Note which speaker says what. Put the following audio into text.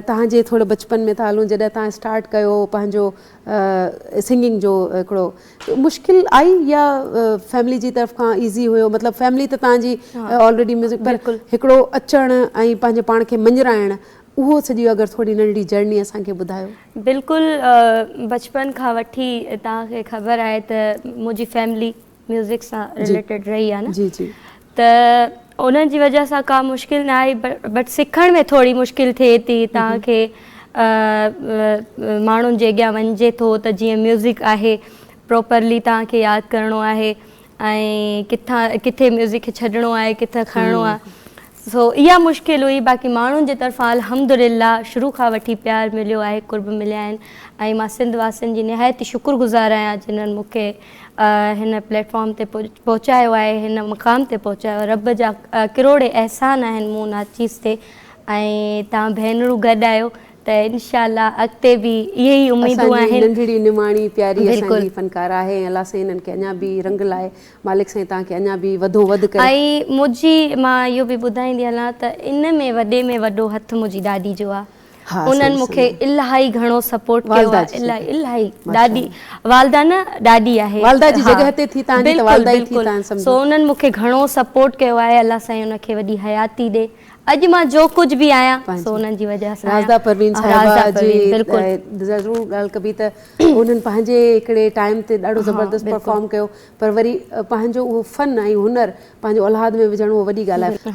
Speaker 1: توهان جي ٿوري بچپن ۾ تالون جڏهن توهان اسٽارٽ ڪيو پنهنجو سنگنگ جو هڪڙو مشڪل آئي يا فيملي جي طرف کان ايزي هيو مطلب فيملي ته توهان جي آلريڊي ميوزڪ پر هڪڙو اچڻ ۽ پنهنجي پاڻ کي مڃرائڻ اهو سڄي اگر ٿوري ننڍڙي جرني اسان کي ٻڌايو. بلڪل
Speaker 2: بچپن کان وٺي توهان کي خبر آهي ته منهنجي فيملي ميوزڪ سان رليٽيڊ رهي آهي نه ته انهن جي وجه سان ڪا مشڪل نه آئي بٽ سکڻ ۾ ٿوري مشڪل ٿئي ٿي توهان کي ماڻهن جي اڳيان وڃجي ٿو ته جيئن ميوزڪ آهي پروپرلي توهان کي ياد ڪرڻو آهي ۽ ڪٿان ڪٿي ميوزڪ کي ڇڏڻو آهي ڪٿان کڻڻو آهي سو اها مشڪل هئي باقي ماڻهن جي طرفان الحمد لله شروع کان وٺي پيار مليو آهي قرب مليا آهن ۽ مان سنڌ واسين جي نهايت شڪر گذار آهيان جنهن مون کي هن پليٽ فارم تي پهچايو آهي هن مقام تي پهچايو رب جا ڪروڙين احسان آهن مون ناچيز تي ۽ تهان ڀينرون گڏ آهيو ته انشاء الله اڳتي به اهي ئي اميدون آهن. اسان جي ننڍڙي نماڻي
Speaker 1: پياري اسان جي فنڪار آهي ۽ الله سائين هنن کي اڃا به رنگ لائي مالڪ سائين تهان کي اڃا به وڌو وڌ ڪري. ۽ منهنجي
Speaker 2: مان اهو به ٻڌائيندي هلان ته ان ۾ وڏي ۾ وڏو هٿ منهنجي ڏاڏي جو آهي ها انهن مون کي الاهي گهڻو سپورٽ ڪيو آهي الاهي الاهي ڏاڏي والده نه ڏاڏي آهي والده جي جڳهه تي ٿي
Speaker 1: تهنجي ته والده ئي ٿي تهن سمجهو سو انهن مون کي گهڻو
Speaker 2: سپورٽ ڪيو آهي الله سائين ان کي وڏي حياتي ڏي اڄ مان جو ڪجهه به آهيان سو انهن جي وجهه سان آهيان رازده
Speaker 1: پروين صاحبه جي ضرور ڳالهه ڪبي ته انهن پنهنجي هڪڙي ٽائيم تي ڏاڍو زبردست پرفارم ڪيو پر وري پنهنجو اهو فن ۽ هنر پنهنجو اولاد ۾ وجهڻ اهو وڏي ڳالهه آهي